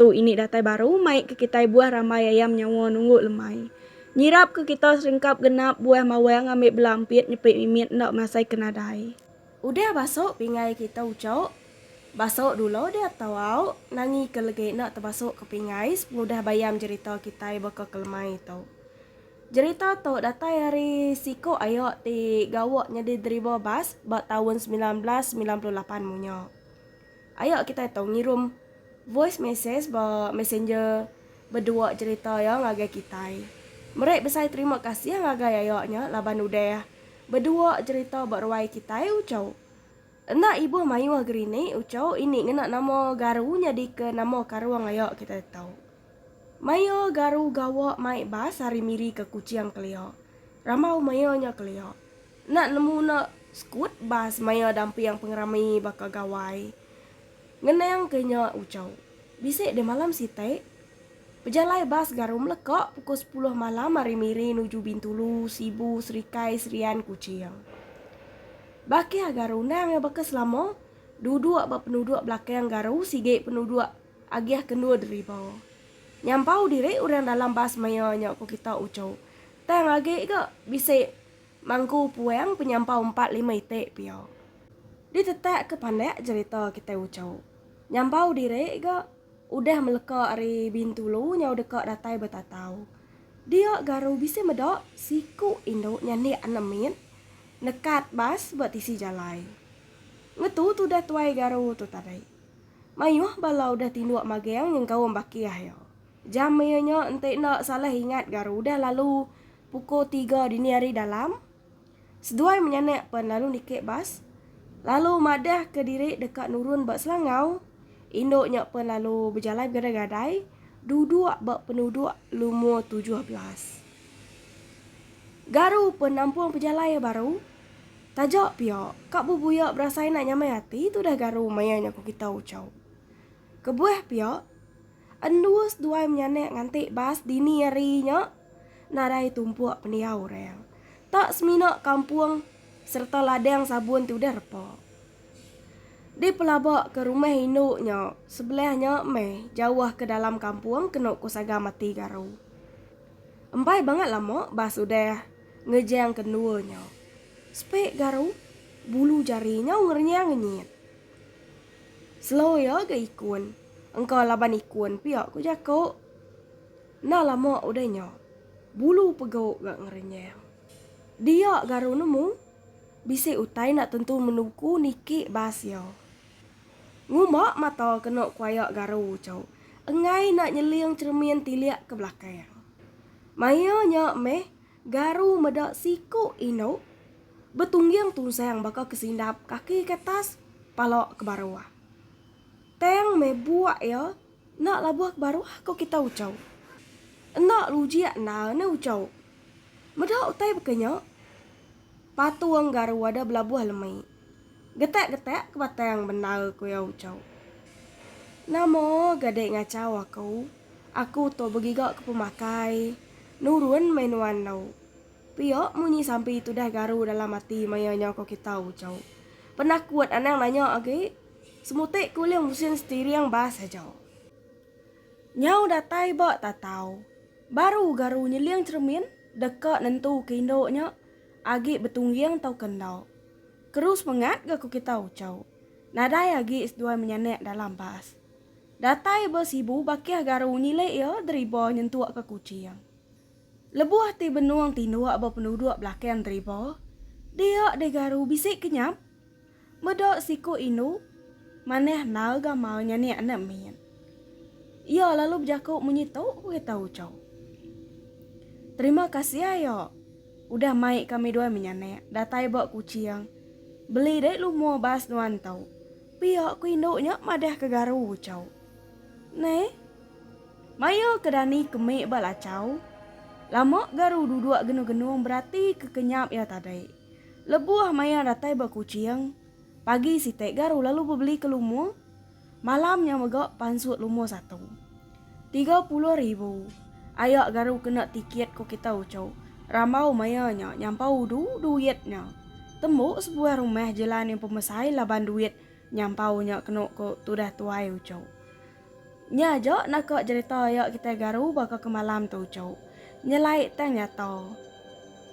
Tu ini datai baru mai ke kitai buah rambai ayam nyawa nunggu lemai. Nyirap ke kita seringkap genap buah mawang ambi bela ampit nyepi mimit enda masai ke nadai. Udah basok pingai kita ucok, basok dulo dia tau auk nangi ke legi enda tebasok ke pingai sepengudah bayam jerita kitai baka ke lemai tu. Jerita tu datai ari siko ayok ti gawa nyadi driver bas ba taun semilan belas semilan puluh lapan munyo. Ayo kitai tau ngirum voice message ba messenger bedua cerita iya ngagai kitai. Meri besai terima kasih ngagai ayo nya laban udah bedua cerita ba ruai kitai uco. Enda ibuh mayuh gerinik uco ini ngena nama garu nyadika nama karung ayo kitai tau. Maya garu gawa mai bas ari Miri ke Kuching kelia. Rambau maya nya kelia. Enda nemu enda sekut bas maya damping pengerami baka Gawai ngenang ke nya ucau. Bisi deh malam siti, pejalai bas garu meleka pukul sepuluh malam ari Miri nuju Bintulu, Sibu, Serikai, Serian, Kuching. Bakih garu endang iya baka selama, duduk ba penuduk belakang garu sigi penuduk agih kendur deriba. Nyampau diri orang dalam bas maya nya ku kita ucau. Tang agi ga bisi Mangku puang penyampau empat lima iti pia. Ditetak ke pandak jerita kitai uco. Nyampau diri ga udah meleka ari Bintulu nyau deka datai betatau. Dia garu bisi meda siku indu nyandik anak mit nekat bas ba tisi jalai. Ngetu tudah tuai garu tu tadi. Mayuh bala udah tinduk magang nyengkaum bakih iya. Jam iya nya enti enda salah ingat garu udah lalu Pukul tiga dini hari dalam, seduai menyanak pen lalu niki bas lalu madah ke diri deka nurun ba Selangau. Indu nya pen lalu bejalai begadai-gadai duduk ba penuduk lumur tujuh belas. Garu pen nampung pejalai iya baru. Taja pia, ka bebuya berasai enda nyamai ati tudah garu maya nya ku kita ucau. Kebuah pia. Endur seduai menyanak nganti bas dini hari nya nadai tumpuk pendiau orang. Tak semina kampung sereta ladang sabun ti udah repa. Dipelaba ke rumah indu nya sebelah nya meh jauh ke dalam kampung kenu ku Saga Mati Garu. Embai bangat lama bas udah ngejang ke endur nya. Sepik Garu, bulu jari nyau ngerenyang ngenyit. Slow iya ga ikun. Engka laban ikun pia ku jaku. Enda lama udah nya, bulu pegu ga ngerenyang. Dia garu nemu, bisi utai enda tentu menuku niki bas iya. Ngumba mata kena kuaya garu tu, enggai enda nyeling cheremin tilik ke belakang. Maia nya meh. Garu meda siku indu betungging tunsang baka ke sindap kaki ke atas, pala ke baruh. Tang meh buak iya enda labuh ke baruh ko kita uchu. Enda lujik endar ne uchu. Meda utai baka nya, patung garu ada belabuh lemi. Getak-getak ke batang bendar ku iya ucau. Nama ga dek ngacau aku, aku tu begiga ke pemakai, nurun meh nuan enggau. Pia munyi sampi tudah garu dalam ati maya nya ko kita ucau. Penakut anang nanya agi, semutik ke ulih ngusin setiring bas aja. Nyau datai ba tatau, baru garu nyeling cheremin deka nentu ke indu nya agi betungging tauka enda. Keru semengat ga ku kita ucau. Nadai agi seduai menyanak dalam bas. Datai ba Sibu bakih garu nyilik iya deriba nyentuk ke Kuching. Lebuh ti benung tinduk ba penduduk belakang deriba, dia deh garu bisi kenyap. Meda siku indu manah enggau gamal nya nek enda min. Iya lalu bejaku munyi tu berita uchu. Terima kasih ayo udah mai kami dua menyanak datai ba Kuching beli dek lumur bas nuan tu. Pia ku indu nya madah ke garu uchu. Neh. Mayu ke Dani kemik ba lachau. Lama garu duduk genung-genung berati ke kenyap iya tadi. Lebuh maya datai ba Kuching, pagi siti garu lalu bebeli ke lumur, malam nya mega pansut lumur satu. Tiga puluh ribu. Aya garu kena tikit ku kita uchu. Rambau maya nya nyampau udu duit nya. Tembu sebuah rumah jelan yang pemesai laban duit nyampau nya kenu ku tudah tuai uchu. Nya aja naka jerita ayak kitai garu baka ke malam tu uchu. Nyelai tang nyata.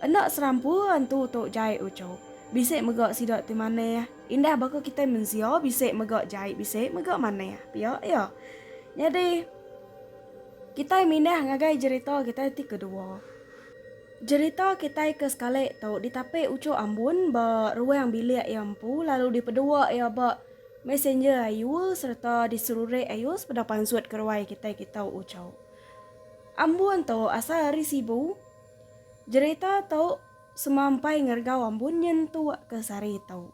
Enda serampu antu tu jai uchu. Bisi mega sida ti manah. Indah baka kitai mensia bisi mega jai bisi mega manah pia iya. Nyadi kitai mindah ngagai jerita kitai ti kedua. Jerita kitai ke sekali tu ditapi uchu ambun ba ruang bilik iya empu lalu dipedua iya ba. Messenger ayu sereta diserurek ayu sepeda pansut ke ruai kitai kitau ucau. Ambun tu asal ari Sibu. Jerita tu semampai ngergau ambun nyentuk ke sari tu.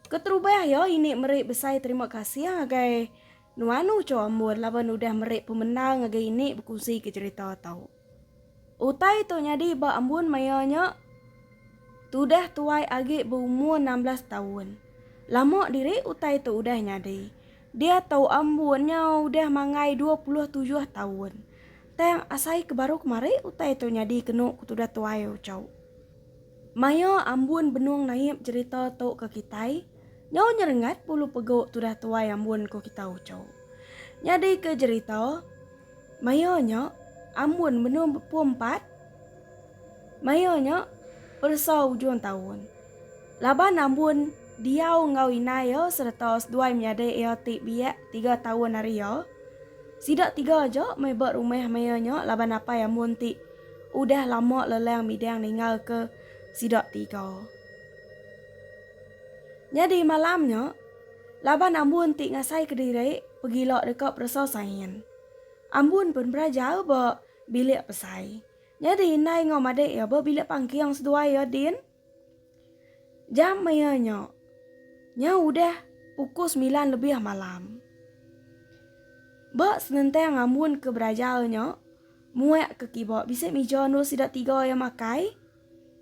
Keterubah iya ini meri besai terima kasih ngagai nuan ucau ambun laban udah meri pemendar ngagai ini bekunsi ke jerita tu. Utai tu nyadi ba embun maya nya tudah tuai agi beumur enam belas taun. Lama diri utai tu udah nyadi. Dia tu embun nya udah manggai dua puluh tujuh taun. Tang asai ke baru kemari utai tu nyadi kenu ke tudah tuai ucau. Maya Ambun Benung Naip jerita tu ke kitai, nyau nyerengat pulu pegu tudah tuai Ambun ku kita uchu. Nyadi ke jerita, maya nya Ambun Benung bepu empat, maya nya peresa ujung taun. Laban Ambun diau enggau inai iya sereta seduai menyadi iya ti biak tiga taun ari iya, sida tiga aja meh ba rumah maya nya laban apai Ambun ti Udah lama Lelang midang ninggalka sida tiga. Nyadi malam nya, laban Ambun ti ngasai kediri pegila deka peresa Sain. Ambun pun beraja ba bilik pesai. Nyadi indai enggau madik iya ba bilik pangking seduai iya din. Jam maya nya, nya udah pukul semilan lebih malam. Ba senentang ngambun ke beraja nya, muak ke kiba bisi mija endur sida tiga iya makai,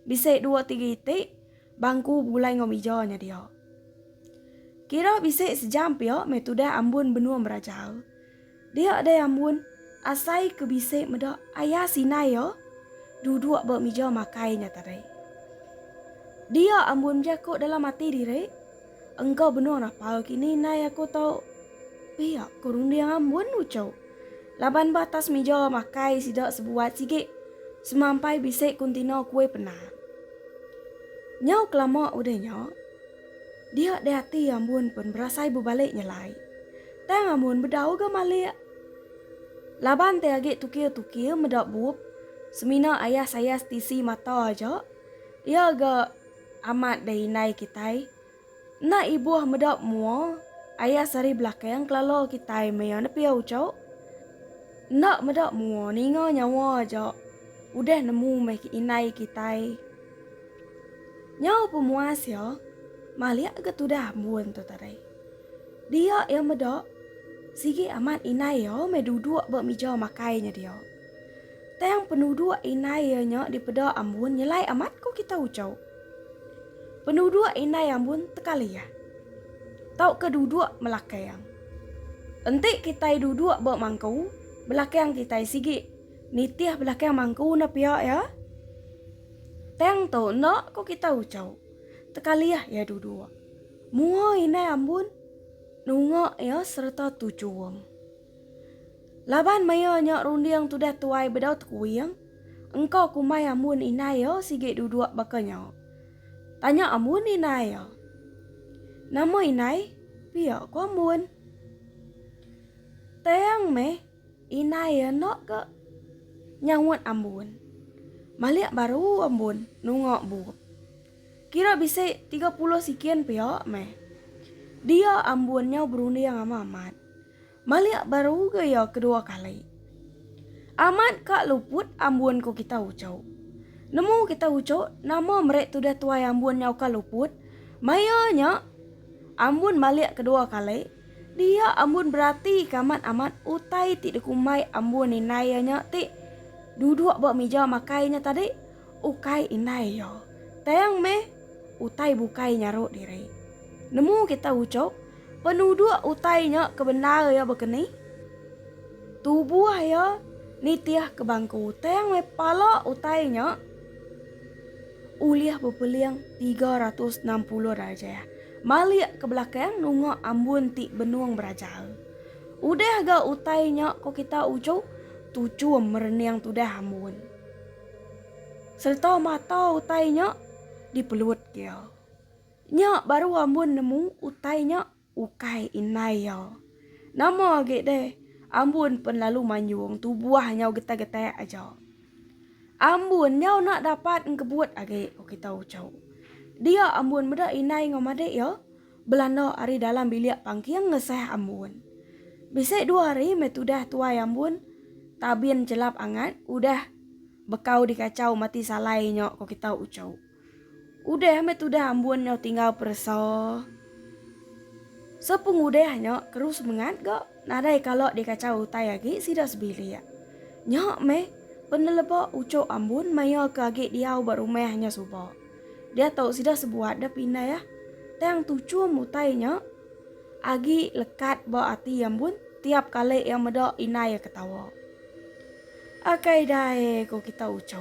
bisi dua tiga iti bangku bulai enggau mija nya dia. Kira bisi sejam pia meh tudah ambun benung beraja. Dia deh ambun asai ke bisi meda aya sinai iya duduk ba mija makai nya tadai. Dia ambun mja ko dalam ati diri, engka benung rapal kini nai aku to. Pia ko runding ambun uchu. Laban ba atas mija makai sida sebuat sigi semampai bisi kontena kue penang. Nyau kelama udah nya. Dia deh ati ambun pun berasai bebalik nyelai. Tang ambun bedau ga malik. Laban te agi tukir-tukir meda bup, semina ayah saya setisi mata aja, iya ga amat deh indai kitai. Enda ibuh meda mua, ayah sehari belakang kelala kitai maya nepi auchok. Enda meda mua ninga nyawa aja udah nemu meh indai kitai. Nyau pemuas iya malik ga tudah embun tu tadi. Dia iya meda sigi amat indai iya meh duduk ba mija makai nya dia. Tang penuduk indai iya nya dipeda ambun nyelai amat ko kita uchu. Penuduk indai ambun tekalih tauka duduk melakang. Enti kitai duduk ba mangku belakang kitai sigi. Nitih belakang mangku enda pia iya. Tang tu enda ko kita ucau. Tekalih iya duduk. Mua inai ambun nunga iya sereta tuchum. Laban maya nya runding tudah tuai bedau tekuing, engka kumbai ambun inai iya sigi duduk baka nya. Tanya ambun inai iya. Nama inai? pia ko ambun. Tang meh. Indai iya enda ke nyaut ambun. Malik baru ambun nunga bup. Kira bisi tiga puluh sikin pia meh. Dia ambun nyau berunding ama amat. Malik baru ga iya kedua kali. Amat ka luput ambun ku kita uchu. Nemu kita uchu nama meri tudah tuai ambun nyau ka luput. Maya nya ambun malik kedua kali. Dia Ambun beratika amat amat utai ti dikumbai Ambun indai iya nya ti duduk ba mija makai nya tadi ukai indai iya. Tang meh utai bukai nyaru diri. Nemu kita uchup penuduk utai nya ke bendar iya baka ni? Tubuh iya nitih ke bangku tang meh pala utai nya ulih bepeling tiga ratus enam puluh darjah. Malik ke belakang nunga ambun ti benung berajal. Udah ga utai nya ko kita uju tuchum merening tudah ambun. Sereta mata utai nya di pelut iya. Nya baru ambun nemu utai nya ukai indai iya. Nama agi deh ambun pen lalu manjung tubuh nyau getai-getai aja. Ambun nyau enda dapat engkebut agi oki tau ucau. Dia ambun meda indai enggau madik iya belanda ari dalam bilik pangking ngesah ambun. Bisi dua hari meh tudah tuai ambun tabin chelap angat udah bekau dikachau mati salai nya oki tau ucau. Udah meh tudah ambun nyau tinggal peresa. Sepengudah nya keru semengat ga nadai kala dikachau utai agi sida sebilik. Nya meh peneleba uchu ambun maya ke agi diau ba rumah nya suba. Diatu sida sebuat deh pindah ah. Tang tuchum utai nya agi lekat ba ati ambun tiap kali iya meda indai iya ketawa. Akai dai ko kita uchu.